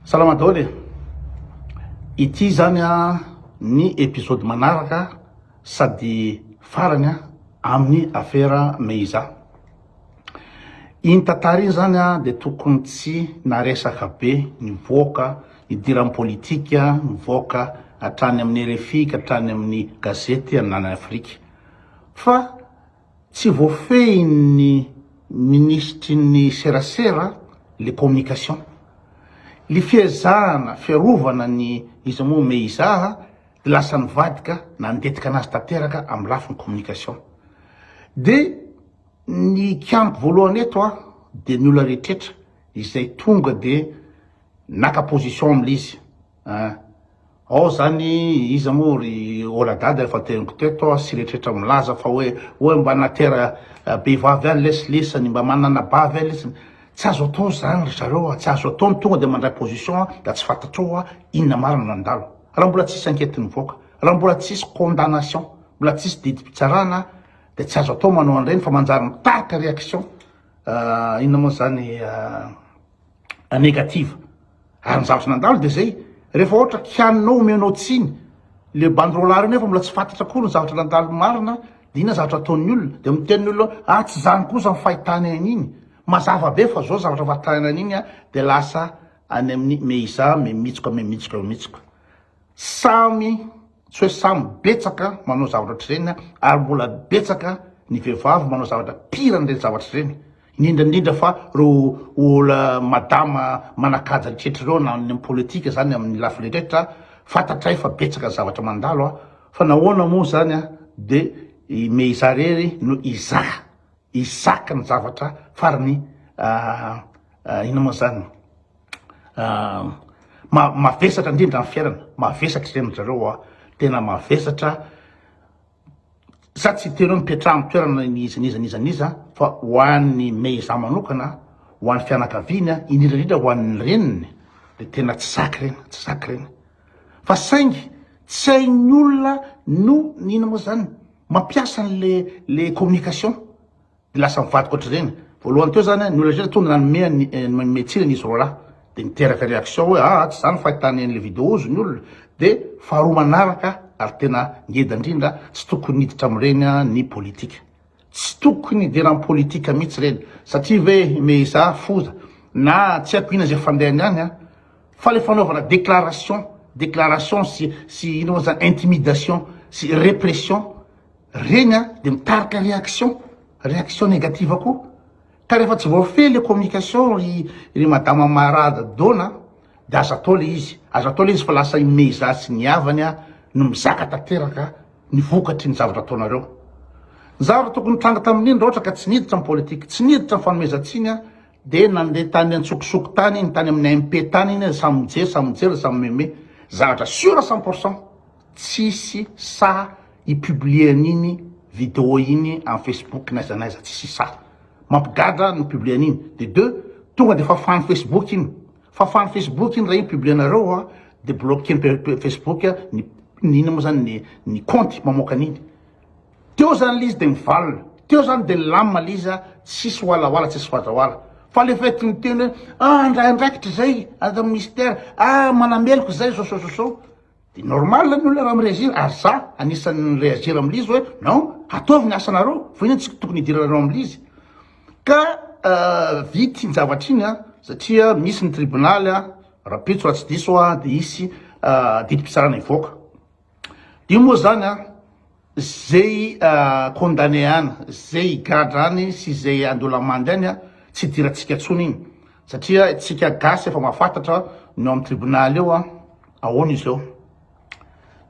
Salama daholo e! Ity izany ny episode manaraka sady farany amin'ny afera Meiza. Iny tantara iny izany dia tokony tsy naresaka be nivoaka nidiran'ny politika, nivoaka hatrany amin'ny RFI ka hatrany amin'ny gazety ananan'i Afrika fa Tsy voafehin'ny minisitry ny serasera le communication le fiezahana fiarovana ny iza moa me iza de lasa nivadika nandetika anazy tanteraka amin'ny lafiny communication de ny kianiko voalohany eto a de ny olona rehetretra izay tonga de naka position amin'le izy Eeh ao zany iza moa ry oladada efa teniko teto sy reetretra milaza fa oe oe mba natera behivavy any lesy lesany mba manana bavy any lesy tsy azo atao zany ry zareo a tsy azo atao ny tonga de mandray position a da tsy fantatrao oa inona marina no nandalo raha mbola tsisy enquete nivoaka raha mbola tsisy condamnation mbola tsisy didim-pitsarana de tsy azo atao manao an'ireny fa manjary mitarika reaction inona moa zany negative Ary ny zavatra nandalo dia izay, rehefa ohatra kianinao omenao tsiny le banderole reo nefa mbola tsy fantatra akory ny zavatra nandalo marina dia inona zavatra ataon'ny olona, dia miteny ny olona hoe ah tsy izany kosa ny fahitany an'iny, mazava be fa izao zavatra fahitany an'iny dia lasa any amin'ny me iza, me mitsoka, me mitsoka, me mitsoka. Samy, tsy hoe samy, betsaka manao zavatra ohatr'ireny ary mbola betsaka ny vehivavy manao zavatra pire an'ireny zavatra ireny, indrindra indrindra fa ireo ol madama manakaja ny tretra ireo na ny politika izany amin'ny lafiny rehetra, fantatray fa betsaka ny zavatra mandalo a! fa nahoana moa izany a! de me izaho irery no izaha isaky ny zavatra farany inona moa izany? mavesatra indrindra ny fiainana, mavesatra ireny ry zareo a, tena mavesatra, za tsy hiteny hoe mipetraha amin'ny toerana n'iza n'iza n'iza n'iza fa ho an'ny me izaho manokana, ho an'ny fianakaviany a, indrindra indrindra ho an'ny reniny dia tena tsy zaka ireny, tsy zaka ireny, fa saingy tsy hain'ny olona no, inona moa zany, mampiasa an'le le communication. Dia lasa mivadika ohatr'ireny. Voalohany teo izany, ny olona rehetra tonga nanome ny nanome tsiny an'izy roalahy. Dia niteraka réaction hoe aa tsy izany ny fahitany an'ilay vidéo ozy ny olona. Dia faharoa manaraka ary tena ngeda indrindra, tsy tokony hiditra amin'ireny ny politika. Tsy tokony hidera amin'ny politika mihitsy ireny. Satria ve meheza foza na tsy haiko inona izay fandehany any fa ilay fanaovana déclaration, déclaration sy sy inona moa izany intimidation sy répression. Regny a de mitarika réaction, réaction négative koa ka refa tsy voafehy le communication ry ry madama marada dona de aza atao le izy, aza atao le izy fa lasa i meiza sy ny havany a no mizaka tanteraka ny vokatry ny zavatra ataonareo. Ny zavatra tokony hitranga tamin'iny ra ohatra ka tsy niditra ny politique, tsy niditra ny fanomezan-tsiny a de nande tany antsokosoko tany iny, tany amin'ny AMP tany iny, samy mijery, samy mijery, samy mihomehy, zavatra sur cent pour cent. Tsisy sahy hi publier an'iny video iny am Facebook n'aiza n'aiza, tsisy sahy. Mampigadra ny publier an'iny. De deux, tonga de fafan'ny Facebook iny. Fafan'ny Facebook iny raha iny publier anareo a, de bloquer-n'ny Facebook ny ny inona moa zany ny ny kaonty mamoaka an'iny. Teo zany le izy de mivalona, teo zany de milamina le izy a, tsisy hoalahoala, tsisy fadraoala. Fa le fait miteny hoe ah ndray andraikitra zay, aza mister, ah manameloka zay, zao zao zao zao. Dia normal ny olona raha mi-reagir ary za anisan'ny ni-reagir amin'il'izy hoe non, ataovy ny asanareo fa inona tsy tokony hidiranareo amin'il'izy. Ka vita iny zavatra iny a, satria misy ny tribonaly a, rapitso raha tsy diso aho a, dia hisy didim-pitsarana hivoaka. Io moa izany a. Zay i condamne any, zay i gadra any sy zay andolamandy any tsy idirantsika tsony iny satria tsika gasy efa mafatatra ny ao am tribunal eo an! Ahoana izy eo?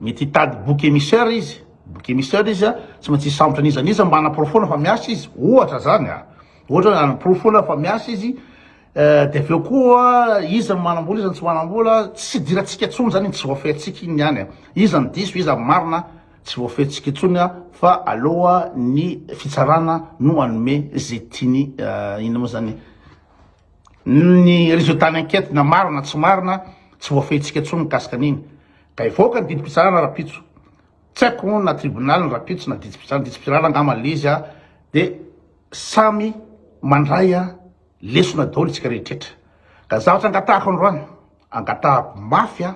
Mety hitady bouc emissaire izy, bouc emissaire izy an! Tsy maintsy hisambotra an'iza n'iza mba hanaporofoana fa miasa izy, ohatra zany an! Ohatra hoe hanaporofoana fa miasa izy, Dia avy eo koa, iza no manam-bola, iza no tsy manam-bola, tsy idirantsika intsony izany iny, tsy voafehintsika iny ihany an, iza no diso, iza no marina, tsy voafehintsika intsony an, fa aleo ny fitsarana no hanome izay tiany, inona moa izany, ny résultat-ny enquête na marina na tsy marina, tsy voafehintsika intsony ny mikasika an'iny, ka hivoaka ny didim-pitsarana rahampitso, tsy haiko moa na tribonaly ny rahampitso na didim-pitsarana, didim-pitsarana angamba ilay izy an, dia samy mandray an. Lesona daholo isika rehetretra. Ka zavatra angatahako androany, angatahako mafy an,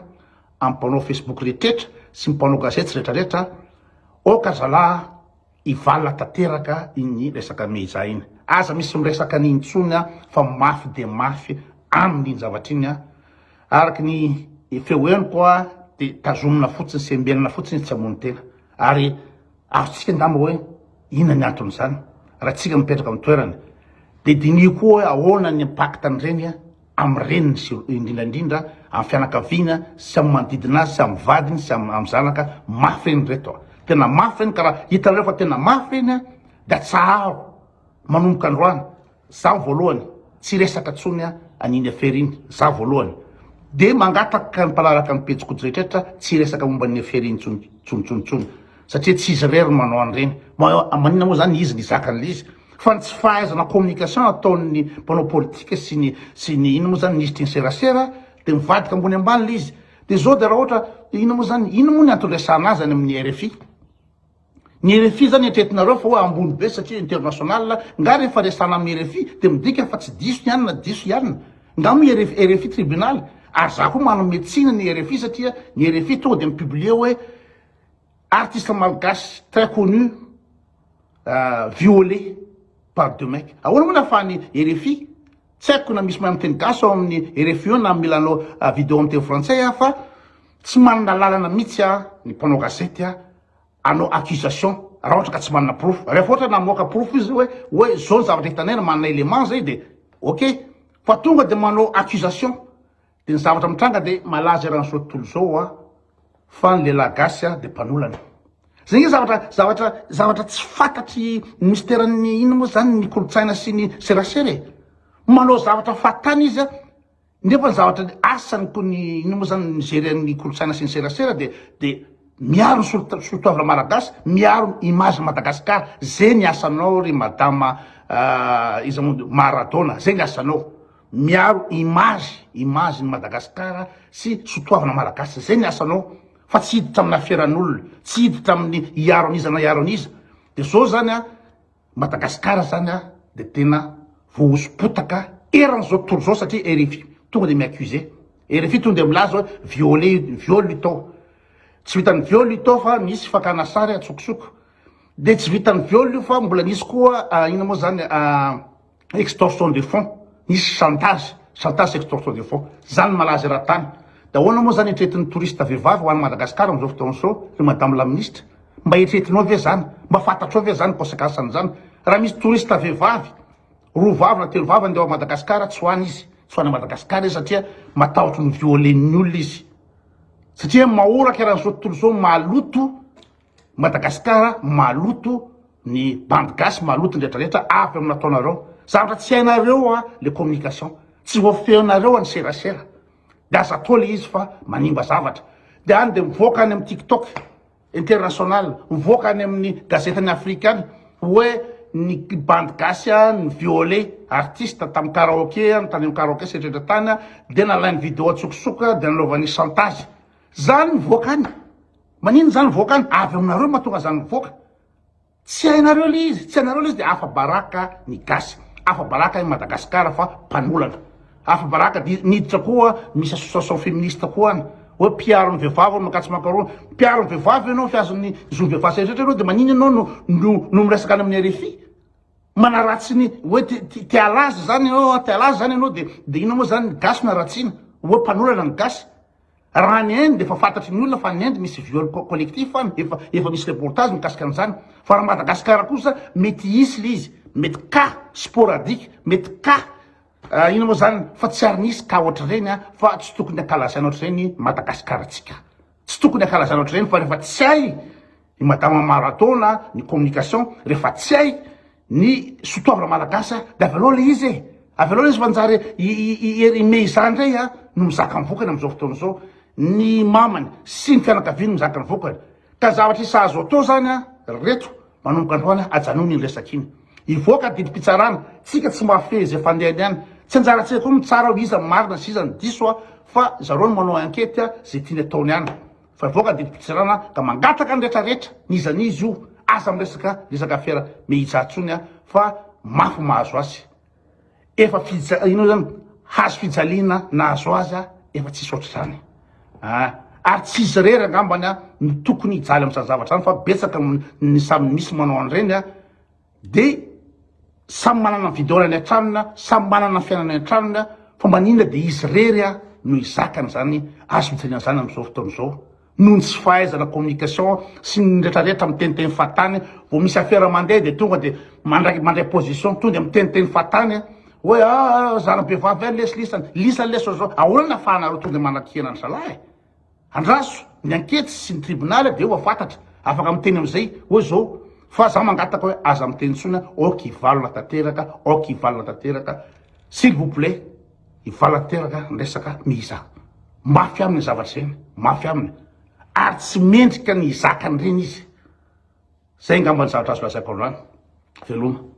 amin'ny mpanao Facebook rehetretra sy ny mpanao gazety sy rehetrarehetra, aoka zalahy hivalona tanteraka iny resaka Meiza iny. Aza misy miresaka an'iny intsony an, fa mafy dia mafy aminy iny zavatra iny an. Araka ny feo henoko an, dia tazomina fotsiny, sembenina fotsiny izy tsy hamono tena. Ary. Azontsika angamba hoe inona ny anton'izany raha tsika mipetraka amin'ny toerany. Dia diniho koa hoe ahoana ny impactn'ireny amin'ny reniny sy indrindra indrindra amin'ny fianakaviana sy amin'ny manodidina azy sy amin'ny vadiny sy amin'ny zanaka. Mafy ireny ireto. Tena mafy ireny ka raha hitanareo fa tena mafy ireny dia atsaharo manomboka androany. Zaho voalohany tsy resaka tsony an'iny affaire iny zaho voalohany de mangataka ny mpanaraka ny pejy koto rehetrretra tsy hiresaka momba an'iny affaire iny tsony tsontsontsony satria tsy izy irery no manao an'ireny maninona moa zany izy ny zaka an'le izy fa ny tsy fahaizana communication ataon'ny mpanao politika sy ny sy ny ino moa zany minisitry ny serasera de mivadika ambony ambany le izy de zao de raha ohatra ino moa zany ino moa ny antony resahana azy any amin'ny RFI Ny rfi zany eritreretinareo fa hoe ambony be satria international, nga rehefa resana amin'ny rfi dia midika fa tsy diso ny any na diso ianona? Nga moa rfi rfi tribunal? Ary za koa manome tsiny ny rfi satria ny rfi tonga dia mi-publier hoe artiste malgache très connu viole par deux mecs. Ahoana moa ny ahafahan'ny rfi, tsy haiko na misy mahay miteny gasy ao amin'ny rfi eo na mila hanao video amin'ny teny frantsay aho fa tsy manana lalana mihitsy aho ny mpanao gazety aho. hanao accusation raha ohatra ka tsy manana porofo, rehefa ohatra namoaka porofo izy hoe hoe zao ny zavatra hitanay ary manana élément zay dia ok, fa tonga dia manao accusation dia ny zavatra mitranga dia malaza eran'ny zao tontolo zao hoa fa ny lehilahy gasy a dia mpanolana zay nge zavatra zavatra zavatra tsy fantatry ny misteran'ny inona moa zany ny kolontsaina sy ny serasera e manao zavatra fahatany izy a Nefa ny zavatra ny asany ko ny ino mo zany mijery an ny kolontsaina sy ny serasera de de miaro ny solo sotoavina malagasy miaro ny image ny Madagascar ze ny asanao ry madama iza mo Maradona ze ny asanao miaro image image ny Madagascar sy sotoavina malagasy ze ny asanao fa tsy hiditra amina fiaran olona tsy hiditra aminy hiaro an'iza na hiaro an'iza de zao zany an Madagasikara zany a de tena voahoso-potaka eran'izao tontolo izao satria RFI tonga de mi-accuser, RFI tonga de milaza hoe viole viol io tao, tsy vitan'ny viol io tao fa misy fakana sary atsokosoko, de tsy vitan'ny viol io fa mbola nisy koa inona moa zany. extorsion de fond nisy chantage chantage sy extorsion de fond zany malaza eran-tany de ahoana moa zany etretin'ny touriste vehivavy ho any Madagascar amin'izao fotoana izao ry madame la ministre mba etretinao ve zany mba fantatrao ve zany conséquence an'izany raha misy touriste vehivavy roa vavy na telo vavy andeha ao Madagascar tsy ho any izy tsy ho any Madagascar izy satria matahotry ny violen'ny olona izy satria mahoraka eran'izao tontolo izao maloto Madagasikara maloto ny bandy gasy maloto ny retraretra avy amin'ny nataonareo zavatra tsy hainareo a le communication tsy voafehinareo any serasera de aza atao le izy fa manimba zavatra de any de mivoaka any amin'ny tiktok international mivoaka any amin'ny gazetin'ny afrikana hoe ny bandy gasy a ny viole artiste tamin'ny karaoke any tany amin'ny karaoke setretra tany a de nalain'ny video an-tsokosoko de nanaovany chantage zany mivoaka any Manino zany mivoaka any? Avy aminareo no mahatonga zany mivoaka. Tsy hainareo le izy, tsy hainareo le izy de afa baraka ny gasy, afa baraka i Madagascar fa mpanolana. Afa baraka de niditra koa misy association feministe koa any oe mpiaro ny vevavy oe makatso makaroa. Mpiaro ny vevavy enao fihazo ny zony vevavy sy eretrretra enao de manino enao no no no miresaka any amin'ny rfi? Manaratsy ny oe te te te alaza zany enao te alaza zany enao de de inona mo zany ny gasy no aratsiana oe mpanolana ny gasy? Raha any Inde efa fantatry ny olona fa any Inde misy viol collectif any, efa efa misy reportage mikasika an'izany. Fa raha Madagasikara kosa mety hisy le izy, mety cas sporadique, mety cas ah, inona moa izany fa tsy ary nisy cas ohatr'ireny ah, fa tsy tokony hankalazaina ohatr'ireny Madagasikaratsika. Tsy tokony hankalazaina ohatr'ireny fa rehefa tsy hay I madama maratona ny communication rehefa tsy hay ny sotoavina malagasy de avy aloha le izy e avy aloha le izy fa njary i herime izany ndray a no mizaka ny vokany amizao fotoana izao ny mamany sy ny fianakaviany mizaka ny vokany ka zavatra isa azo atao zany a ry reto manomboka androany a ajanony iny resaka iny hivoaka didim-pitsarana tsika tsy mahafehy izay fandehany any tsy anjarantsika koa mitsara hoe iza ny marina sy iza ny diso a fa zareo no manao enquete a ze tiany ataony any Fa hivoaka didim-pitsirana ka mangataka ny rehetra rehetra n'iza n'iza io, aza miresaka resaka afera Me Ija tsony a, fa mafy mahazo azy. Efa fija inona zany hazo fijaliana nahazo azy a, efa tsisy ohatr'izany a. Ary tsy izy rery angambany a no tokony hijaly amin'izany zavatra zany fa betsaka ny samy misy manao an'ireny a, Dia samy manana ny vidaorany an-tranony na samy manana ny fiainany an-tranony a, fa mba inona dia izy irery a no hizaka an'izany azo fijaliana izany amin'izao fotoana izao? Noho ny tsy fahaizana communication sy ny retraretra miteniteny fahatany, vao misy afera mandeha dia tonga dia mandray mandray position tonga dia miteniteny fahatany hoe aa zana-behivavy ve lesy lisany, lisany lesy zao zao, ahoana ny afahanareo tonga dia manakihana ny zalahy e? Andraso ny ankety sy ny tribonaly dia efa fantatra, afaka miteny amin'izay hoe zao fa za mangataka hoe aza miteny intsony aho, ok hivalona tanteraka, ok hivalona tanteraka, s'il vous plait hivalona tanteraka ny resaka mihiza, mafy aminy zavatra zay, mafy aminy ary tsy mendrika ny hizaka an'ireny izy, zay angamba ny zavatra azo lazaiko androany, veloma.